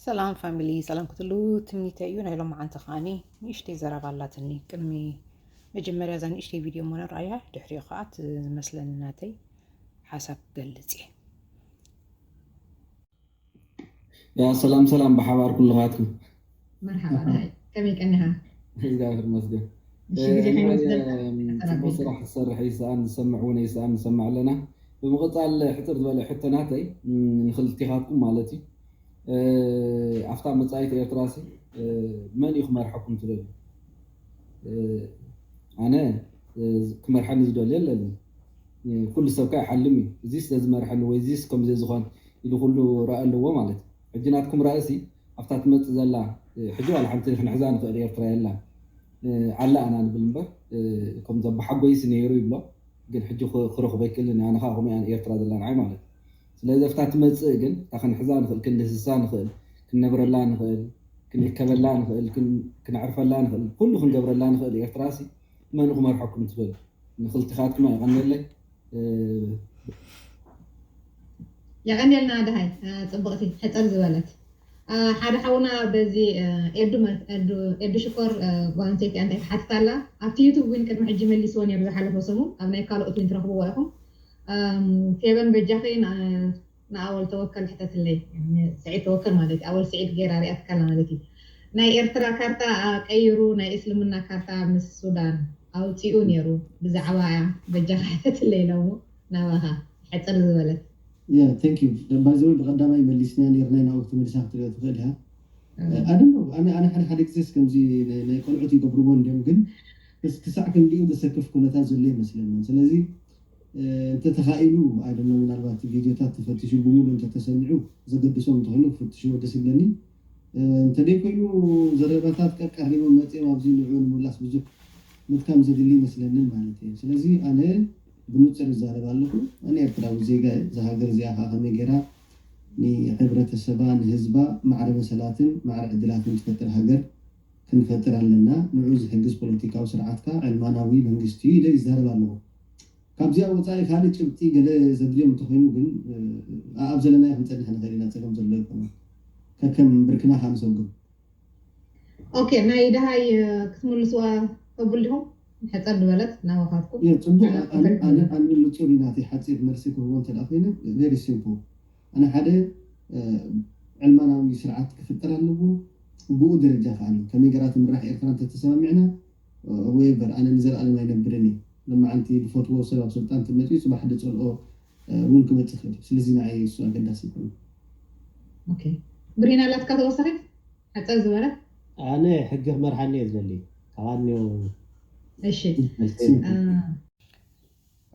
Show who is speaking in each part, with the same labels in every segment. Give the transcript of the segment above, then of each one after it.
Speaker 1: ሰላም ፋሚሊ ሰላም ክትሉ ትምኒተ እዩ ናይ ሎማዓንቲ ከዓኒ ንእሽተይ ዘረባ ኣላትኒ ቅድሚ መጀመርያ እዛ ንእሽተይ ቪድዮ እሞ ንርኣያ ድሕሪኡ ከዓ እቲ ዝመስለኒ ናተይ ሓሳብ ክገልፅ እየ
Speaker 2: ያ ሰላም ሰላም ብሓባር ኩልኻትኩም መርሓባ
Speaker 3: ደሃይ ከመይ ቀኒኻ። እግዚኣብሔር ይመስገን
Speaker 2: ንበል
Speaker 3: ፅቡቅ ስራሕ
Speaker 2: ዝሰርሕ ይሰኣን ዝሰምዕ እውን ኣይሰኣን ንሰምዕ ኣለና ብምቅፃል ሕፅር ዝበለ ሕቶ ናተይ ንክልቲካትኩም ማለት እዩ ኣፍታ መፃኢት ኤርትራሲ መን እዩ ክመርሐኩም ትደልዩ ኣነ ክመርሐኒ ዝደልዮ ኣለኒ ኩሉ ሰብካ ይሓልም እዩ እዚስ ዘዝመርሐኒ ወይ እዚስ ከምዚ ዝኮን ኢሉ ኩሉ ራኢ ኣለዎ ማለት እዩ ሕጂ ናትኩም ራእሲ ኣብታ ትመጽእ ዘላ ሕጂ ዋላ ሓንቲ ክንሕዛ ንኽእል ኤርትራ የላን ኣላ ኢና ንብል እምበር ከም ዘባሓጎይስ ኔሩ ይብሎ ግን ሕጂ ክረኽቦ ኣይክእልን ኣነ ከኣ ከምኡ እያ ኤርትራ ዘላ ንዓይ ማለት እዩ ስለዚ ኣብታ ትመጽእ ግን እታ ክንሕዛ ንኽእል ክንድህስሳ ንኽእል ክንነብረላ ንኽእል ክንእከበላ ንኽእል ክነዕርፈላ ንኽእል ኩሉ ክንገብረላ ንኽእል ኤርትራሲ መን ክመርሐኩም ትብል ንክልቲካትኩም የቀኔለይ።
Speaker 3: የቀኔልና ደሃይ ጽብቅቲ ሕጽር ዝበለት። ሓደ ሓውና በዚ ኤዱ ሽኮር ጓል ኣንስተይቲ ኣንታይ ትሓትት ኣላ ኣብቲ ዩቱብ ዊን ቅድሚ ሕጂ መሊስዎ ኔሩ ዝሓለፈ ሰሙን ኣብ ናይ ካሎኦት ዊን ትረክብዎ ኢኩም ፌበን በጃኪ ንኣወል ተወከል ሕተትለይ ስዒድ ተወከል ማለት ኣወል ስዒድ ጌራ ሪኣትካ ኣላ ማለት እዩ ናይ ኤርትራ ካርታ ኣቀይሩ ናይ እስልምና ካርታ ምስ ሱዳን ኣውጺኡ ኔሩ ብዛዕባኣ በጃካ ሕተትለይ ሎሙ ናባካ ሕጽር ዝበለት። Yeah thank
Speaker 4: you by the way ብቀዳማይ መሊስንያ ኔርናይ ናብኡ ክትምልሳ ክትሪኦ ትክእል ኢካ I don't know ኣነ ኣነ ሓደ ሓደ ግዜስ ከምዚ ናይ ናይ ቆልዑት ይገብርዎ እንድዮም ግን ክሳዕ ክንድኡ ዘሰክፍ ኩነታት ዘሎ ኣይመስለንን ስለዚ እንተ ተኻኢሉ I don't know ምናልባት ቪድዮታት ተፈቲሹ ብምሉኡ እንተ ተሰሚዑ ዘገድሶም እንተ ኾይኑ ክፍትሽዎ ደስ ይብለኒ እንተ ደይ ኮይኑ ዘረባታት ቀቀሪቦም መጺኦም ኣብዚ ንዕኡ ንምምላስ ብዙሕ ምድካም ዘድሊ ኣይመስለንን ማለት እየ ስለዚ ኣነ ብኑጽር ይዛረብ ኣለኹ ኣነ ኤርትራዊ ዜጋ እየ እዛ ሃገር እዚኣ ከኣ ከመይ ጌራ ንሕብረተሰባ ንህዝባ ማዕረ መሰላትን ማዕረ ዕድላትን ትፈጥር ሃገር ክንፈጥር ኣለና ንዕኡ ዝሕግዝ ፖለቲካዊ ስርዓት ከኣ ዕልማናዊ መንግስቲ እዩ ኢለ ይዛረብ ኣለኹ። ካብዚኣ ወጻኢ ካልእ ጭብጢ ገለ ዘድልዮም እንተኾይኑ ግን ኣኣብ ዘለናዮ ክንጸንሕ ንኽእል ኢና ጸገም ዘሎ ኣይኮነን ከከም ብርክና ከኣ ንሰጉም። ኦኬ ናይ ደሃይ
Speaker 3: ክትምልስዋ ቅቡል ዲኹም ሕጽር ድበለት ናባኻትኩም እየ ጽቡቅ ኣነ
Speaker 4: ኣነ ክልተ ኣነ ይበል። ኣነ ንጹር እዩ ናተይ ሓጺር መልሲ ክህቦ እንተ ደኣ ኮይነ very simple ኣነ ሓደ ዕልማናዊ ስርዓት ክፍጠር ኣለዎ ብኡ ደረጃ ከኣ ኣሎ ከመይ ገራ ትምራሕ ኤርትራ እንተ ተሰማሚዕና እወ እበር ኣነ ንዘልኣለም ኣይነብርን እየ ሎማዓንቲ ድፈትዎ ሰብ ኣብ ስልጣን ተመጺኡ ጽባሕ ድጸልኦ ውን ክመጽእ ይክእል እዩ ስለዚ ንዓይ እሱ ኣገዳሲ ኣይኮነን። ኦኬ
Speaker 3: ብሪን ኣላትካ ተወሳኺት ሓጸር ዝበለት። ኣነ ሕጊ
Speaker 5: ክመርሓኒ እየ ዝደሊ ካባኒ እሺ
Speaker 3: መልሰይ።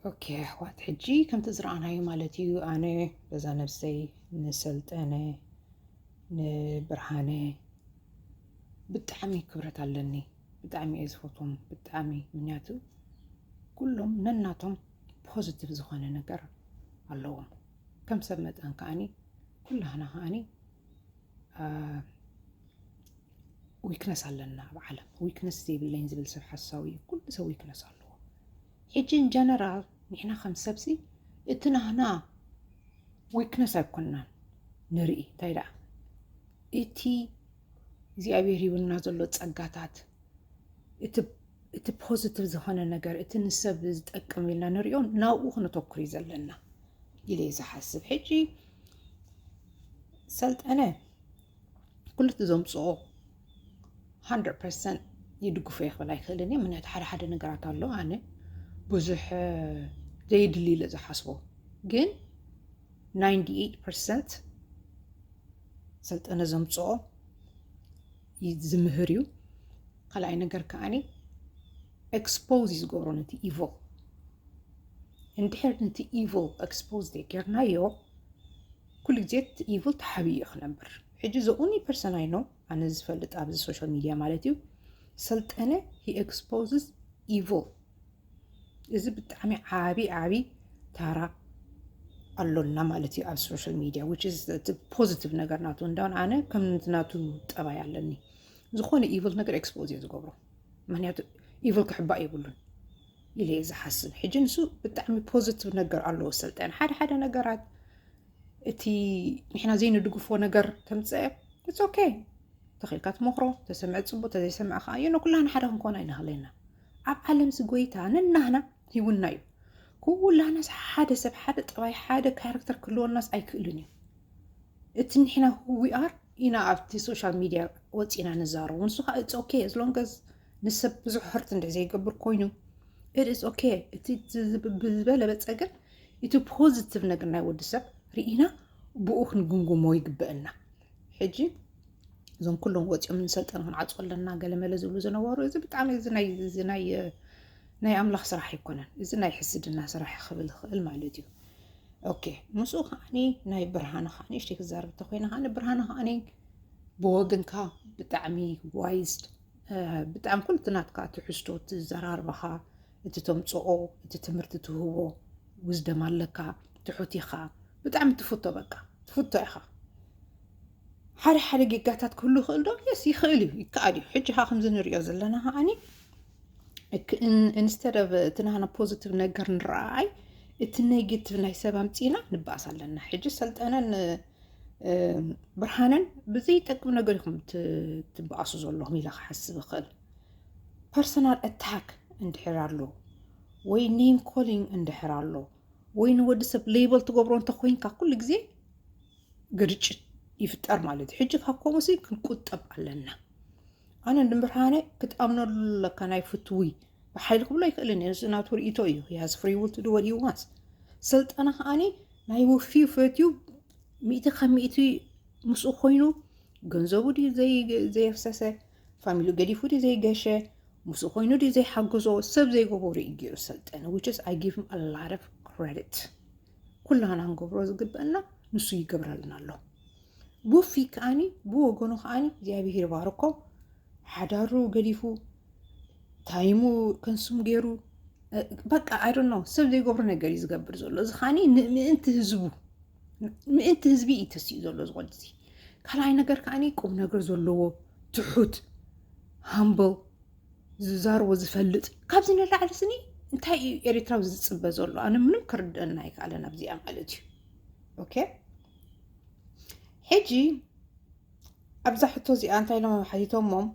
Speaker 1: ኦኬ ኣሕዋት ሕጂ ከምቲ ዝረኣናዮ ማለት እዩ ኣነ በዛ ነብሰይ ንሰልጠነ ንብርሃነ ብጣዕሚ ክብረት ኣለኒ ብጣዕሚ እየ ዝፈትዎም ብጣዕሚ ምክንያቱ ኩሎም ነናቶም ፖዚቲቭ ዝኾነ ነገር ኣለዎም ከም ሰብ መጠን ከዓኒ ኩላህና ከዓኒ ዊክነስ ኣለና ኣብ ዓለም ዊክነስ ዘይብለኝ ዝብል ሰብ ሓሳዊ እዩ ኩሉ ሰብ ዊክነስ ኣለዎ ሕጂ ኢን ጀነራል ንሕና ከም ሰብሲ እቲ ናህና ዊክነስ ኣይኮናን ንርኢ እንታይ ደኣ እቲ እግዚኣብሔር ይብልና ዘሎ ጸጋታት እቲ እቲ ፖዚቲቭ ዝኾነ ነገር እቲ ንሰብ ዝጠቅም ኢልና ንሪኦ ናብኡ ክነተኩር እዩ ዘለና ኢለ ዝሓስብ ሕጂ ሰልጠነ ኩሉቲ ዘምፅኦ ሃንድረድ ፐርሰንት ይድግፎ እየ ክብል ኣይክእልን እየ ምክንያቱ ሓደ ሓደ ነገራት ኣሎ ኣነ ብዙሕ ዘየድሊ ኢለ ዝሓስቦ ግን ናይንቲ ኤይት ፐርሰንት ሰልጠነ ዘምፅኦ ዝምህር እዩ ካልኣይ ነገር ከዓኒ ኤክስፖዝ እዩ ዝገብሮ ነቲ ኢቮል እንድሕር ነቲ ኢቮል ኤክስፖዝ ዘይጌርናዮ ኩሉ ግዜ ኢቭል ተሓቢኡ እዩ ክነብር ሕጂ ዘ ኦንሊ ፐርሰን ኣይ ኖው ኣነ ዝፈልጥ ኣብዚ ሶሻል ሚድያ ማለት እዩ ሰልጠነ ሂ ኤክስፖዝስ ኢቭል እዚ ብጣዕሚ ዓብዪ ዓብዪ ታራ ኣሎና ማለት እዩ ኣብ ሶሻል ሚድያ ፖዚቲቭ ነገር ናቱ እንዳውን ኣነ ከም ናቱ ጠባይ ኣለኒ ዝኾነ ኢቭል ነገር ኤክስፖዝ እየ ዝገብሮ ምክንያቱ ኢቭል ክሕባእ የብሉን ኢለ እየ ዝሓስብ ሕጂ ንሱ ብጣዕሚ ፖዚቲቭ ነገር ኣለዎ ስልጣን ሓደ ሓደ ነገራት እቲ ንሕና ዘይንድግፎ ነገር ተምፀአ እስ ኦኬ ተኽኢልካ ትመክሮ ተሰምዐ ፅቡቅ ተዘይሰምዐ ከዓ እዮ ንኩላና ሓደ ክንኮን ኣይንኽእለና ኣብ ዓለምዚ ጎይታ ነናህና ሂውና እዩ ኩላናስ ሓደ ሰብ ሓደ ጠባይ ሓደ ካራክተር ክህልወናስ ኣይክእልን እዩ እቲ ንሕና ዊኣር ኢና ኣብቲ ሶሻል ሚድያ ወፂና ንዛረቡ ንሱ ከዓ እፅ ኦኬ ዝሎንገዝ ንሰብ ብዙሕ ህርት እንደ ዘይገብር ኮይኑ እፅ ኦኬ እቲ ዝበለበፀ ግን እቲ ፖዚቲቭ ነገር ናይ ወዲ ሰብ ርኢና ብኡ ክንግምግሞ ይግበአና ሕጂ እዞም ኩሎም ወፂኦም ንሰልጠን ክንዓፁ ኣለና ገለመለ ዝብሉ ዝነበሩ እዚ ብጣዕሚ እዚ ናይ ኣምላኽ ስራሕ ኣይኮነን እዚ ናይ ሕስድና ስራሕ ክብል ይኽእል ማለት እዩ ኦኬ ምስኡ ከዓኒ ናይ ብርሃንኻ ንእሽተይ ክዛረብ እንተኮይነ ከዓኒ ብርሃን ከዓኒ ብወግንካ ብጣዕሚ ዋይዝ ብጣዕሚ ኩሉ ናትካ ትሕዝቶ ትዘራርባኻ እቲ ተምፅኦ እቲ ትምህርቲ ትህቦ ውዝደም ኣለካ ትሑት ኢኻ ብጣዕሚ ትፍቶ በቃ ትፍቶ ኢኻ ሓደ ሓደ ጌጋታት ክህሉ ይኽእል ዶ የስ ይኽእል እዩ ይከኣል እዩ ሕጂ ካ ከምዚ ንሪኦ ዘለና ከዓኒ ኢንስተድ ኦፍ እቲ ናህና ፖዚቲቭ ነገር ንረኣይ እቲ ኔጌቲቭ ናይ ሰብ ኣምፂና ንበኣስ ኣለና። ሕጂ ሰልጠነን ብርሃነን ብዘይጠቅም ነገር ኢኹም ትበኣሱ ዘለኹም ኢለ ክሓስብ ይኽእል። ፐርሰናል ኣታክ እንድሕር ኣሎ ወይ ኔም ኮሊንግ እንድሕር ኣሎ ወይ ንወዲ ሰብ ሌበል ትገብሮ እንተኮይንካ ኩሉ ግዜ ግርጭት ይፍጠር ማለት እዩ። ሕጂ ካብ ከምኡሲ ክንቁጠብ ኣለና። ኣነ ንብርሃነ ክትኣምነሉ ኣለካ ናይ ፍትዊ ብሓይሊ ክብሎ ኣይክእልን እየ እዚ ናቱ ርእቶ እዩ ያዝ ፍሪ ውል ትዱ ወዲ ዋንስ ስልጠና ከዓኒ ናይ ውፍዩ ፈትዩ ሚእቲ ካብ ሚእቲ ምስኡ ኮይኑ ገንዘቡ ድዩ ዘየፍሰሰ ፋሚሉ ገዲፉ ድዩ ዘይገሸ ምስኡ ኮይኑ ድዩ ዘይሓገዞ ሰብ ዘይገበሩ እዩ ገይሩ ሰልጠነ ዊችስ ኣይ ጊቭ ኣላረፍ ክረዲት ኩላና ንገብሮ ዝግበአና ንሱ ይገብረልና ኣሎ ቡፊ ከዓኒ ብወገኑ ከዓኒ እግዚኣብሄር ባርኮ ሓዳሩ ገዲፉ ታይሙ ከንሱም ገይሩ በቃ ኣይዶ ነው ሰብ ዘይገብሮ ነገር እዩ ዝገብር ዘሎ እዚ ከዓኒ ንምእንቲ ህዝቡ ምእንቲ ህዝቢ እዩ ተሲኡ ዘሎ ዝኾነ እዚ ካልኣይ ነገር ከዓኒ ቁም ነገር ዘለዎ ትሑት ሃምብል ዝዛርቦ ዝፈልጥ ካብዚ ንላዕሊ ስኒ እንታይ እዩ ኤርትራዊ ዝፅበ ዘሎ ኣነ ምንም ክርድአና ኣይከኣለን ኣብዚኣ ማለት እዩ ኦኬ ሕጂ ኣብዛ ሕቶ እዚኣ እንታይ ኢሎም ሓቲቶሞም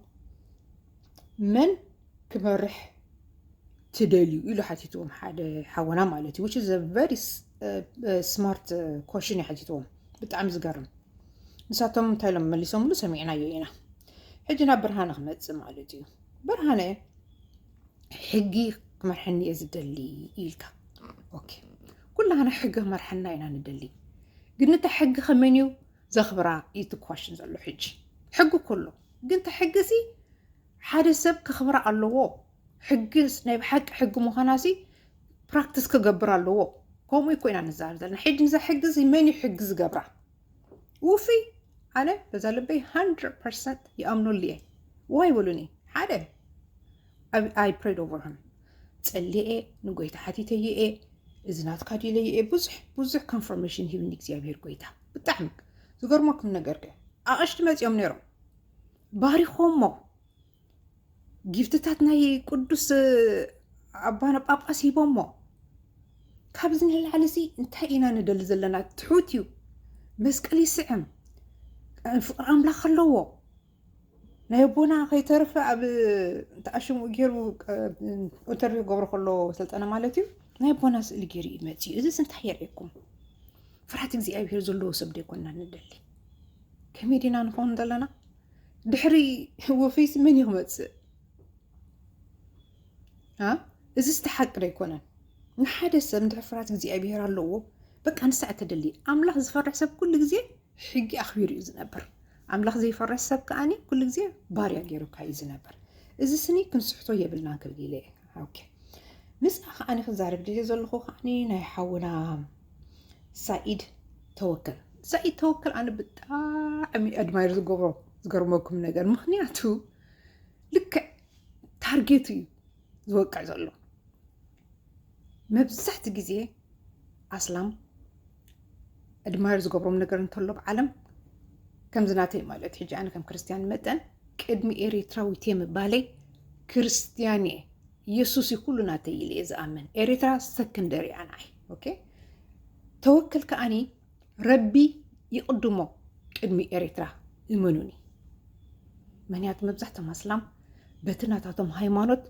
Speaker 1: መን ክመርሕ ትደልዩ ኢሉ ሓቲትዎም ሓደ ሓወና ማለት እዩ ዊች ዘ ቨሪ ስማርት ኮሽን እዩ ሓቲትዎም ብጣዕሚ ዝገርም ንሳቶም እንታይ ኢሎም መሊሶምሉ ሰሚዕናዮ ኢና ሕጂ ናብ ብርሃነ ክመፅእ ማለት እዩ ብርሃነ ሕጊ ክመርሐኒ እየ ዝደሊ ኢልካ ኦኬ ኩላህና ሕጊ ክመርሐና ኢና ንደሊ ግን እታ ሕጊ ከመን እዩ ዘኽብራ እዩ ትኳሽን ዘሎ ሕጂ ሕጊ ኩሉ ግን እታ ሕጊ ሲ ሓደ ሰብ ከኽብራ ኣለዎ ሕጊ ናይ ብሓቂ ሕጊ ምዃና ሲ ፕራክቲስ ክገብር ኣለዎ ከምኡ እኮ ኢና ንዛረብ ዘለና ሕጂ ንዛ ሕጊ ሲ መን እዩ ሕጊ ዝገብራ ውፍይ ኣነ በዛ ልበይ ሃንድረ ፐርሰንት ይኣምነሉ እየ ዋ ይበሉኒ ሓደ ኣይ ፕሬድ ኦቨር ሃም ጸልየ እየ ንጎይታ ሓቲተየ እየ እዚ ናትካ ድለየ እየ ብዙሕ ብዙሕ ኮንፈርሜሽን ሂብኒ እግዚኣብሄር ጎይታ ብጣዕሚ ዝገርመኩም ነገር ከ ኣቐሽቲ መፂኦም ነይሮም ባሪኾሞ ጊፍትታት ናይ ቅዱስ ኣባና ጳጳስ ሂቦሞ ካብዚ ንላዕሊ እዚ እንታይ ኢና ንደሊ ዘለና ትሑት እዩ መስቀል ይስዕም ፍቅሪ ኣምላኽ ኣለዎ ናይ ኣቦና ከይተረፈ ኣብ ተኣሽሙ ገይሩ ኢንተርቪው ክገብሮ ከሎ ሰልጠነ ማለት እዩ ናይ ኣቦና ስእሊ ገይሩ እዩ መፅኡ እዚ እንታይ የርእየኩም ፍርሃት እግዚኣብሄር ዘለዎ ሰብ ደይኮና ንደሊ ከመይ ዲና ንኸውን ዘለና ድሕሪ ወፈይሲ መን እዩ ክመፅእ? እዚ ስተ ሓቂ ዶ ኣይኮነን? ንሓደ ሰብ እንድሕር ፍርሃት እግዚኣብሄር ኣለዎ በቃ ንሳ እተደሊ ኣምላኽ ዝፈርሕ ሰብ ኩሉ ግዜ ሕጊ ኣኽቢሩ እዩ ዝነብር። ኣምላኽ ዘይፈርሕ ሰብ ከዓኒ ኩሉ ግዜ ባርያ ገይሩካ እዩ ዝነብር። እዚ ስኒ ክንስሕቶ የብልናን ክብል ኢለ ኦኬ ምስኣ ከዓኒ ክዛረብ ድልየ ዘለኹ ከዓኒ ናይ ሓውና ሳኢድ ተወከል ሳኢድ ተወከል ኣነ ብጣዕሚ ኣድማይር ዝገብሮ ዝገርመኩም ነገር ምክንያቱ ልክዕ ታርጌት እዩ ዝወቅዕ ዘሎ መብዛሕቲ ግዜ ኣስላም ኣድማይር ዝገብሮም ነገር እንተሎ ብ ዓለም ከምዚ ናተይ ማለት ሕጂ ኣነ ከም ክርስትያን መጠን ቅድሚ ኤሪትራዊት እየ ምባለይ ክርስትያን እየ ኢየሱስ እዩ ኩሉ ናተይ ኢለ እየ ዝኣምን ኤሪትራ ሰክንደሪ እያ ንዓይ ኦኬ ተወክል ከዓኒ ረቢ ይቕድሞ ቅድሚ ኤሪትራ እመኑኒ ምክንያቱ መብዛሕቶም ኣስላም በቲ ናታቶም ሃይማኖት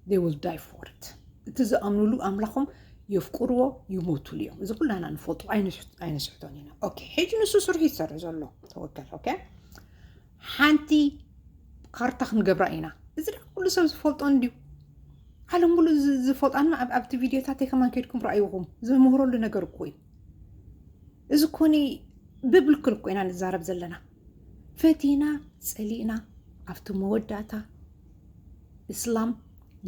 Speaker 1: they will die for it እቲ ዝኣምኑሉ ኣምላኾም የፍቅርዎ ይሞትሉ እዮም እዚ ኩላና ንፈልጦ ኣይንስሕቶን ኢና ኦኬ ሕጂ ንሱ ስርሑ ይሰርሕ ዘሎ ተወከል ኦኬ ሓንቲ ካርታ ክንገብራ ኢና እዚ ደ ኩሉ ሰብ ዝፈልጦ እንድዩ ዓለም ሙሉ ዝፈልጣና ኣብቲ ቪድዮታተይ ከማን ከድኩም ረኣይኹም ዝምህረሉ ነገር እኮ እዩ እዚ ኮኒ ብብልክል እኮ ኢና ንዛረብ ዘለና ፈቲና ፀሊእና ኣብቲ መወዳእታ እስላም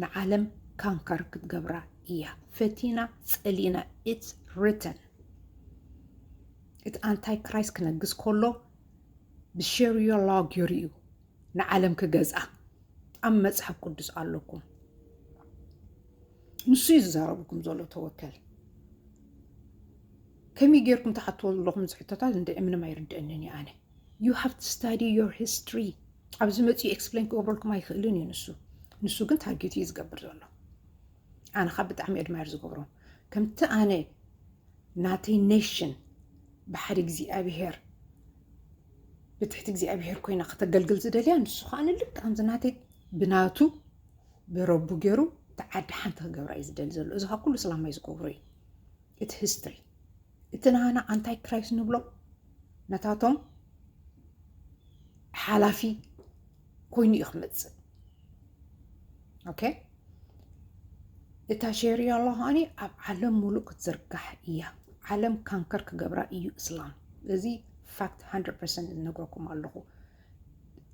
Speaker 1: ንዓለም ካንከር ክትገብራ እያ ፈቲና ፀሊእና ኢትስ ሪተን እቲ ኣንታይ ክራይስ ክነግስ ከሎ ብሸርዮሎግ ጌሩ'ዩ ንዓለም ክገዝኣ ኣብ መጽሓፍ ቅዱስ ኣለኩም ንሱ'ዩ ዝዛረበኩም ዘሎ ተወከል ከመይ ጌርኩም ትሓትዎ ዘለኹም ዝሕቶታት እንድዒ ምንም ኣይርድአንን እዩ ኣነ ዩ ሃቭ ቱ ስታዲ ዮር ሂስትሪ ኣብዚ መፅኡ ኤክስፕሌን ክገብረልኩም ኣይክእልን እዩ ንሱ ንሱ ግን ታርጌት እዩ ዝገብር ዘሎ ኣነ ካብ ብጣዕሚ ኣድማየር ዝገብሮም ከምቲ ኣነ ናተይ ኔሽን ብሓደ እግዚኣብሄር ብትሕቲ እግዚኣብሄር ኮይና ከተገልግል ዝደልያ ንሱ ከዓ ንልክ ከምዚ ናተይ ብናቱ ብረቡ ገይሩ እቲ ዓዲ ሓንቲ ክገብራ እዩ ዝደሊ ዘሎ እዚ ከዓ ኩሉ ስላማይ ዝገብሮ እዩ እቲ ሂስትሪ እቲ ናና ኣንታይ ክራይስ ንብሎ ነታቶም ሓላፊ ኮይኑ እዩ ክመፅእ ኦኬ እታ ሸሪያላ ኸዓኒ ኣብ ዓለም ሙሉእ ክትዝርጋሕ እያ ዓለም ካንከር ክገብራ እዩ እስላም እዚ ፋክት 100 ፐርሰንት ዝነግረኩም ኣለኹ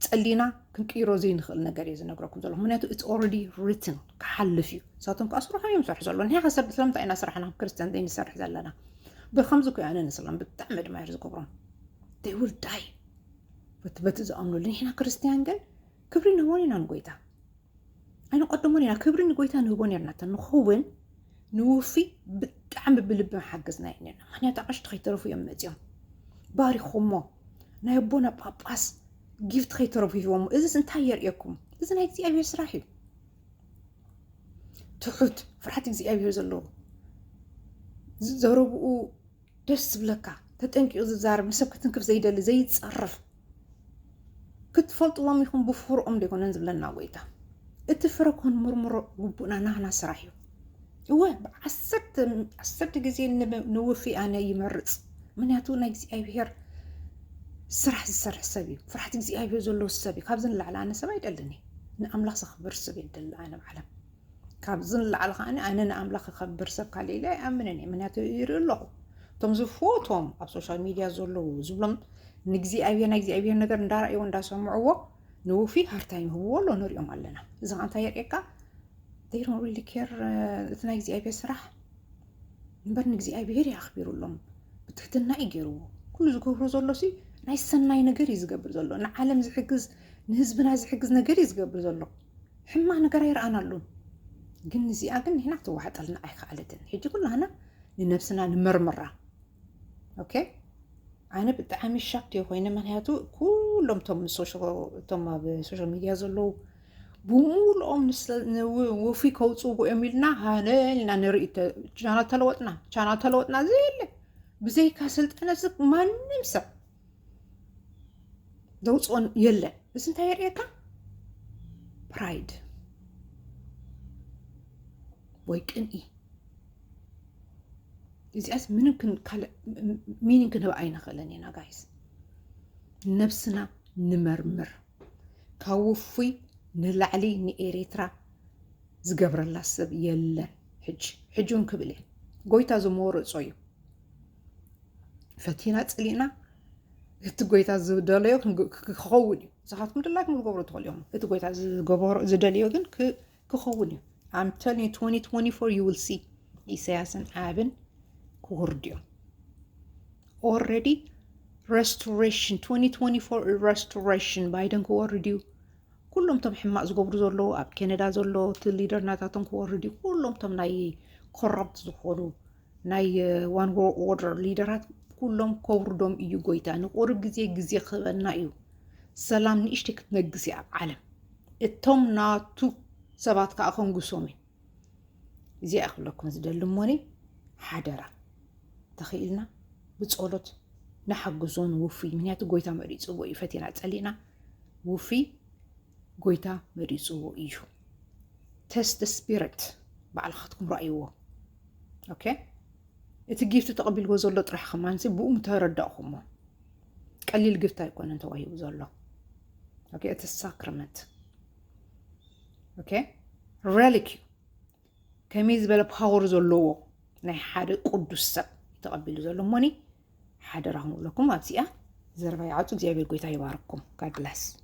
Speaker 1: ጸሊና ክንቅይሮ ዘይንኽእል ነገር እዩ ዝነግረኩም ዘለኹ ምክንያቱ እቲ ኦረዲ ሪትን ክሓልፍ እዩ ንሳቶም ከዓ ስርሖም እዮም ዝሰርሑ ዘሎ ንሕና ሰብ ስለምንታይ ኢና ስራሕና ክርስትያን ዘይንሰርሕ ዘለና ብከምዚ ኮ ኣነ ንስላም ብጣዕሚ ድማ እየ ዝገብሮም ይ ውል ዳይ በቲ በቲ ዝኣምነሉ ንሕና ክርስትያን ግን ክብሪ ንህቦን ኢና ንጎይታ ኣይንቐድሞን ኢና ክብሪ ንጎይታ ንህቦ ነርና እተ ንኸውን ንውፊ ብጣዕሚ ብልቢ ሓገዝና እዩ ነርና ምክንያቱ ኣቐሽቲ ከይተረፉ እዮም መፅኦም ባሪኹሞ ናይ ኣቦና ጳጳስ ጊፍት ከይተረፉ ሂቦሞ እዚስ እንታይ የርእየኩም እዚ ናይ እግዚኣብሔር ስራሕ እዩ ትሑት ፍርሓት እግዚኣብሔር ዘለዎ ዘረብኡ ደስ ዝብለካ ተጠንቂቑ ዝዛረብ ንሰብ ክትንክፍ ዘይደሊ ዘይፀርፍ ክትፈልጥዎም ኢኹም ብፍርኦም ዘይኮነን ዝብለና ጎይታ እቲ ፍረ ኮን ምርምሮ ግቡእና ናህና ስራሕ እዩ እወ ዓሰርተ ግዜ ንውፊ ኣነ ይመርፅ ምክንያቱ ናይ እግዚኣብሄር ስራሕ ዝሰርሕ ሰብ እዩ ፍርሓት እግዚኣብሄር ዘለዎ ሰብ እዩ ካብዚ ንላዕሊ ኣነ ሰብ ኣይደልን እዩ ንኣምላኽ ዘኽብር ሰብ የደሊ ኣነ ባዕላ ካብዚ ንላዕሊ ከኣ ኣነ ንኣምላኽ ክኸብር ሰብ ካሊእ ኢለ ኣይኣምንን እየ ምክንያቱ ይርኢ ኣለኹ እቶም ዝፈትዎም ኣብ ሶሻል ሚድያ ዘለዉ ዝብሎም ንእግዚኣብሔር ናይ እግዚኣብሔር ነገር እንዳረእይዎ እንዳሰምዕዎ ንውፊ ሃርታይም ይህብዎ ኣሎ ንሪኦም ኣለና እዚ ከ እንታይ የርእየካ ዜሮ ሪሊ ኬር እቲ ናይ እግዚኣብሔር ስራሕ እምበር ንእግዚኣብሔር እዩ ኣኽቢሩሎም ብትሕትና እዩ ገይርዎ ኩሉ ዝገብሮ ዘሎ ሲ ናይ ሰናይ ነገር እዩ ዝገብር ዘሎ ንዓለም ዝሕግዝ ንህዝብና ዝሕግዝ ነገር እዩ ዝገብር ዘሎ ሕማቅ ነገር ኣይረኣናሉን ግን ንዚኣ ግን ንሕና ክትዋሕጠልና ኣይከኣለትን ሕጂ ኩላህና ንነብስና ንመርምራ ኦኬ ኣነ ብጣዕሚ ሻክ እየ ኮይነ ምክንያቱ ኩሎም ቶም እቶም ኣብ ሶሻል ሚድያ ዘለዉ ብምሉኦም ንውፍይ ከውፅዎ እዮም ኢልና ሃነ ኢልና ንርኢ ቻና ተለወጥና ቻና ተለወጥና ዘየለ ብዘይካ ስልጠነ ማንም ሰብ ዘውፅኦን የለን። እዚ እንታይ የርእየካ? ፕራይድ ወይ ቅንኢ። እዚኣስ ምንም ካልእ ሚኒን ክንህብ ኣይንኽእልን ኢና ጋይስ። ነብስና ንመርምር። ካብ ውፉይ ንላዕሊ ንኤሬትራ ዝገብረላ ሰብ የለን። ሕጂ ሕጂ እውን ክብል እየ ጎይታ ዝመረፆ እዩ። ፈቲና ጸሊእና እቲ ጎይታ ዝደለዮ ክኸውን እዩ ንስኻትኩም ድላይኩም ክገብሩ ትኽእሉ እዮም እቲ ጎይታ ዝገበሮ ዝደልዮ ግን ክኸውን እዩ ኣምተል 2024 ዩ ዊል ሲ ኢሳያስን ኣብን ክውርድ እዮም ኦልሬዲ ረስቶሬሽን 2024 ረስቶሬሽን ባይደን ክወርድ እዩ ኩሎም ቶም ሕማቅ ዝገብሩ ዘለዉ ኣብ ኬነዳ ዘሎ እቲ ሊደር ናታቶም ክወርድ እዩ ኩሎም ቶም ናይ ኮራፕት ዝኾኑ ናይ ዋን ኦርደር ሊደራት ኩሎም ከውርዶም እዩ ጎይታ ንቁርብ ግዜ ግዜ ክህበና እዩ ሰላም ንእሽተይ ክትነግስ እያ ኣብ ዓለም እቶም ናቱ ሰባት ከዓ ከንግሶም እዩ እዚኣ ክብለኩም ዝደሊ እሞኒ ሓደራ ተኽኢልና ብፀሎት ንሓግዞ ንውፍይ ምክንያቱ ጎይታ መሪፅዎ እዩ ፈቲና ፀሊእና ውፍይ ጎይታ መሪፅዎ እዩ ተስት ስፒሪት ባዕልኻትኩም ረእይዎ ኦኬ እቲ ጊፍቲ ተቐቢልዎ ዘሎ ጥራሕ ከማንሲ ብኡ ምተረዳእኹሞ ቀሊል ግፍቲ ኣይኮነን ተዋሂቡ ዘሎ ኦኬ እቲ ሳክረመንት ኦኬ ሬሊክ እዩ ከመይ ዝበለ ፓወር ዘለዎ ናይ ሓደ ቅዱስ ሰብ ተቐቢሉ ዘሎ እሞኒ ሓደራኹም ብለኩም ኣብዚኣ ዘረባ ይዓፁ እግዚኣብሔር ጎይታ ይባርኩም ጋድ ብለስ